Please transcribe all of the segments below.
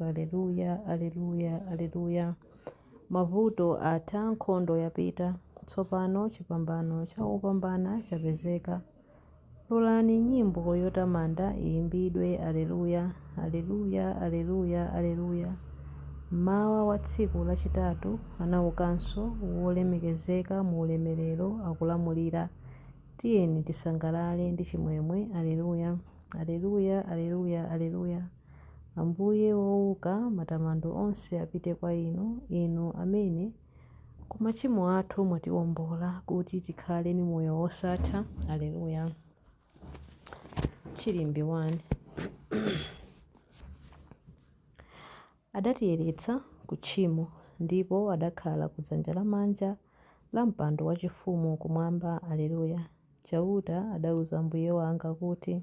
Aleluya, aleluya, aleluya. Mavuto atha, nkhondo yapita. Tsopano chipambano cha opambana chapezeka. Lolani nyimbo yotamanda iyimbidwe, Aleluya, aleluya, aleluya, aleluya. Mmawa wa tsiku lachitatu anaukanso, wolemekezeka mu ulemerero, akulamulira. Tiyeni tisangalale ndi chimwemwe, Aleluya, aleluya, aleluya, aleluya. Ambuye wouka, matamando onse apite kwa Inu, Inu amene ku machimo athu mwatiombola kuti tikhale ni moyo wosatha. Aleluya. Chilimbi 1 adatiyeretsa ku tchimo ndipo adakhala ku dzanja lamanja la mpando wachifumu kumwamba. Aleluya. Chauta adauza Ambuye wanga kuti.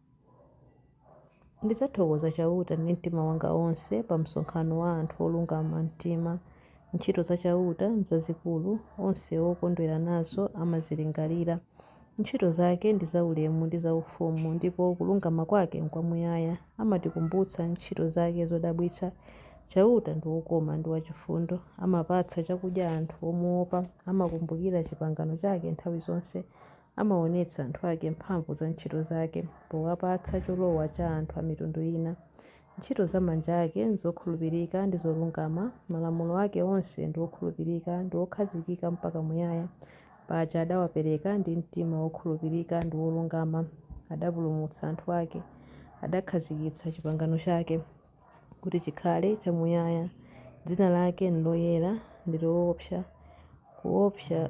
Ndidzathokoza Chauta ndi mtima wanga wonse pa msonkhano wa anthu olungama mtima. Ntchito za Chauta nzazikulu, onse okondwera nazo amazilingalira. Ntchito zake ndi zaulemu ndi zaufumu, ndipo kulungama kwake nkwamuyaya. Amatikumbutsa ntchito zake zodabwitsa. Chauta ndi wokoma ndi wachifundo, amapatsa chakudya anthu omuwopa. Amakumbukira chipangano chake nthawi zonse. Amaonetsa anthu ake mphamvu za ntchito zake powapatsa cholowa cha anthu a mitundu ina. Ntchito za manja ake n'zokhulupirika ndi zolungama, malamulo ake onse ndi okhulupirika ndi okhazikika mpaka muyaya. Paja adawapereka ndi mtima wokhulupirika ndi wolungama, adapulumutsa anthu ake, adakhazikitsa chipangano chake kuti chikhale chamuyaya. Dzina lake nloyera ndi loopsa kuopsa.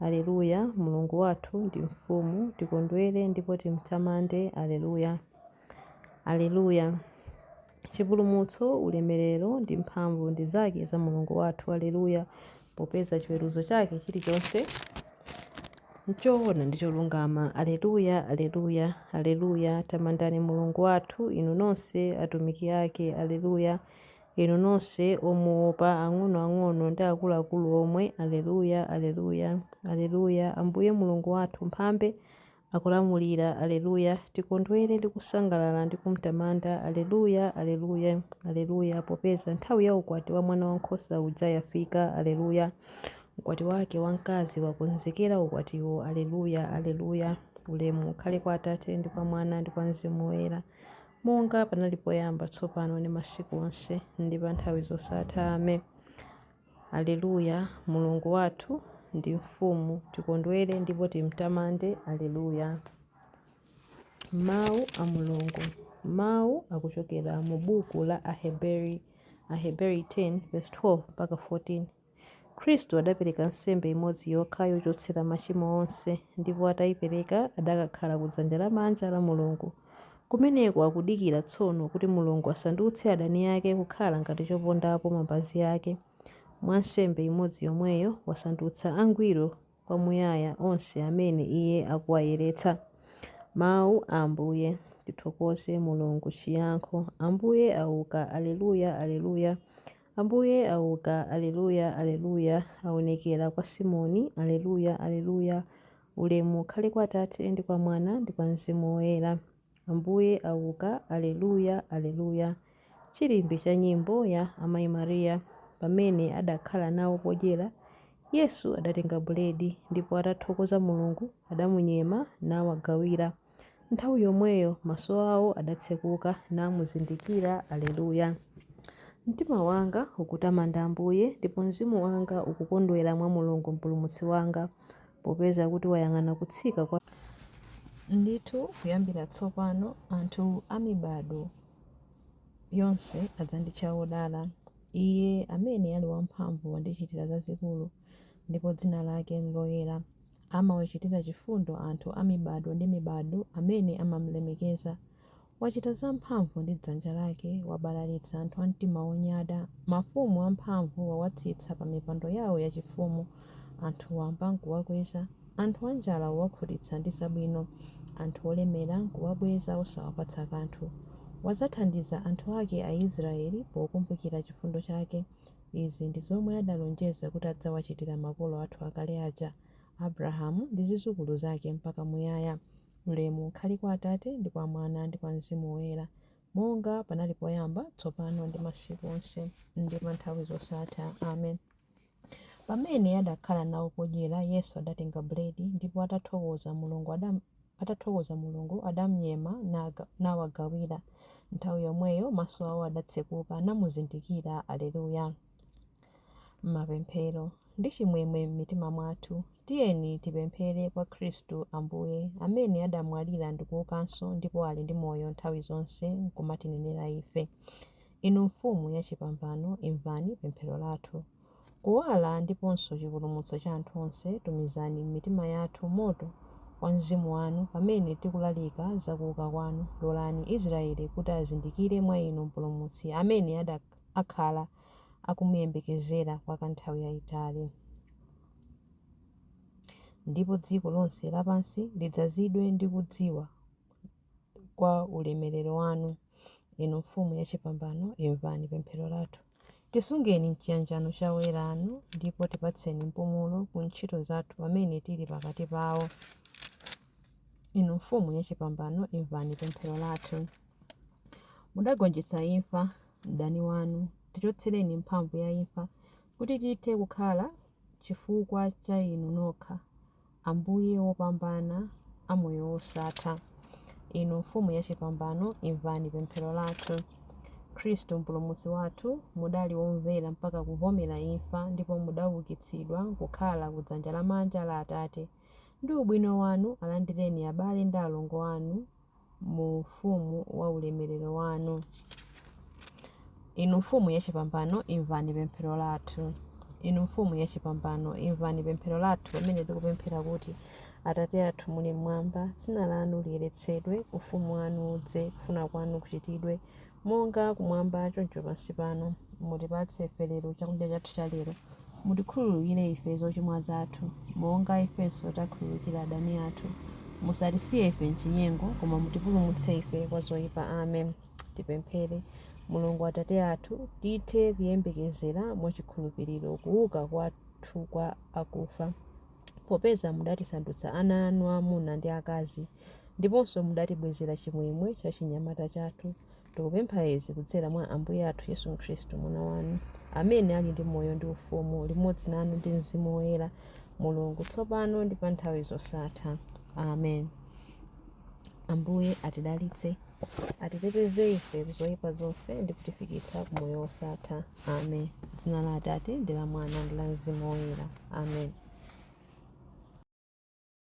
Aleluya, Mulungu wathu ndi Mfumu, tikondwere ndipo timtamande. Aleluya, Aleluya, chipulumutso, ulemerero ndi mphamvu ndi zake za Mulungu wathu. Aleluya, popeza chiweruzo chake chilichonse nchoona ndi cholungama. Aleluya, Aleluya, Aleluya, tamandani Mulungu wathu, inu nonse atumiki ake. Aleluya, Inu nonse omuopa, ang'onoang'ono ndi akuluakulu omwe, Aleluya! Aleluya! Aleluya! Ambuye Mulungu wathu, Mphambe, akulamulira. Aleluya! Tikondwere ndi kusangalala ndi kumtamanda. Aleluya! Aleluya! Aleluya! Popeza nthawi ya ukwati wa Mwanawankhosa uja yafika. Aleluya! Mkwati wake wamkazi wakonzekera ukwatiwo. Aleluya! Aleluya! Ulemu ukhale kwa Atate, ndi kwa Mwana, ndi kwa Mzimu Woyera. Monga panali poyamba, tsopano, ndi masiku onse, ndi pa nthawi zosatha. Amen. Aleluya. Mulungu wathu ndi Mfumu. Tikondwere ndipo timtamande. Aleluya. Mau a Mulungu. Mau akuchokera mu buku la Aheberi, Aheberi 10 vesi 12 mpaka 14. Khristu adapereka nsembe imodzi yokha yochotsera machimo onse, ndipo ataipereka adakakhala ku dzanja lamanja la Mulungu. Kumeneko akudikira tsono kuti Mulungu asandutse adani ake kukhala ngati chopondapo mapazi ake. Mwa nsembe imodzi yomweyo wasandutsa angwiro kwamuyaya onse amene Iye akuwayeretsa. Mawu a Ambuye. Tithokoze Mulungu. Chiyankho, Ambuye auka! Aleluya! Aleluya! Ambuye auka! Aleluya! Aleluya! Aonekera kwa Simoni! Aleluya! Aleluya! Ulemu ukhale kwa Atate, ndi kwa Mwana, ndi kwa Mzimu Woyera. Ambuye auka, Aleluya, Aleluya, Chilimbi cha nyimbo ya Amai Maria. Pamene adakhala nawo podyera, Yesu adatenga buledi, ndipo atathokoza Mulungu, adamunyema, nawagawira. Nthawi yomweyo maso awo adatsekuka, namuzindikira, Aleluya. Mtima wanga ukutamanda Ambuye, ndipo mzimu wanga ukukondwera mwa Mulungu Mpulumutsi wanga, Popeza kuti wayang'ana kutsika kwa. Ndithu, kuyambira tsopano anthu a mibadwo yonse adzanditcha wodala. Iye amene ali wamphamvu wandichitira zazikulu, ndipo dzina lake n'loyera. Amawachitira chifundo anthu a mibadwo ndi mibadwo amene amam'lemekeza. Wachita zamphamvu ndi dzanja lake, wabalalitsa anthu a mtima wonyada. Mafumu amphamvu wawatsitsa pa mipando yao yachifumu, anthu wamba nkuwakweza. Anthu anjala wawakhutitsa ndi zabwino, anthu olemera nkuwabweza osawapatsa kanthu. Wadzathandiza anthu ake Aisraele pokumbukira chifundo chake. Izi ndi zomwe adalonjeza kuti adzawachitira makolo athu akale aja, Abrahamu ndi zidzukulu zake mpaka muyaya. Ulemu ukhale kwa Atate, ndi kwa Mwana, ndi kwa Mzimu Woyera, monga panali poyamba, tsopano ndi masiku onse, ndi pa nthawi zosatha. Amen. Pamene adakhala nawo podyera, Yesu adatenga buledi, ndipo atathokoza Mulungu adam, atathokoza Mulungu, adamnyema naga, nawagawira. Nthawi yomweyo maso awo adatsekuka, namuzindikira. Aleluya. Mapemphero. Ndi chimwemwe m'mitima mwathu, tiyeni tipemphere kwa Khristu Ambuye, amene adamwalira ndikuukanso ndipo ali ndi moyo nthawi zonse nkumatinenera ife. Inu Mfumu ya chipambano, imvani pemphero lathu. Kuwala ndiponso chipulumutso cha anthu onse, tumizani m'mitima yathu moto wa Mzimu wanu pamene tikulalika za kuuka kwanu. Lolani Israele kuti azindikire mwa inu Mpulumutsi amene adak. akhala akumuyembekezera kwa nthawi yaitali. Ndipo dziko lonse lapansi lidzazidwe ndi kudziwa kwa ulemerero wanu, inu Mfumu yachipambano, imvani pemphero lathu. Tisungeni m'chiyanjano cha oyera anu, ndipo tipatseni mpumulo ku ntchito zathu pamene tili pakati pawo. Inu Mfumu yachipambano, imvani pemphero lathu. Mudagonjetsa imfa, mdani wanu. Tichotsereni mphamvu ya imfa, kuti tithe kukhala chifukwa cha inu nokha, Ambuye wopambana a moyo wosatha. Inu Mfumu yachipambano, imvani pemphero lathu. Khristu Mpulumutsi wathu, mudali womvera mpaka kuvomera imfa ndipo mudaukitsidwa kukhala kudzanja lamanja la Atate. Ndi ubwino wanu alandireni abale ndi alongo anu mu ufumu wa ulemerero wanu. Inu Mfumu yachipambano, imvani pemphero lathu. Inu Mfumu yachipambano, imvani pemphero lathu pamene tikupemphera kuti, Atate athu muli mmwamba, dzina lanu liyeretsedwe, ufumu wanu udze, kufuna kwanu kuchitidwe Monga Kumwamba, choncho pansi pano, mutipatse ife lero chakudya chathu cha lero. Mutikhululukire ife zochimwa zathu, monga ifenso takhululukira adani athu. Musatisiye ife m'chinyengo, koma mutipulumutse ife kwa zoipa. Amen. Tipemphere. Mulungu Atate athu, tithe kuyembekezera mwa chikhulupiriro kuuka kwathu kwa akufa, popeza mudatisandutsa ana anu amuna ndi akazi. Ndiponso mudatibwezera chimwemwe cha chinyamata chathu. Tikupempha izi kudzera mwa Ambuye athu Yesu Khristu, Mwana wanu, amene ali ndi moyo ndi ufumu limodzi nanu ndi Mzimu Woyera, Mulungu, tsopano ndi pa nthawi zosatha. Amen. Ambuye atidalitse, atiteteze ife kuzoyipa zonse ndi kutifikitsa ku moyo wosatha. Amen. Dzina la Atate ndi la Mwana ndi la Mzimu Woyera. Amen.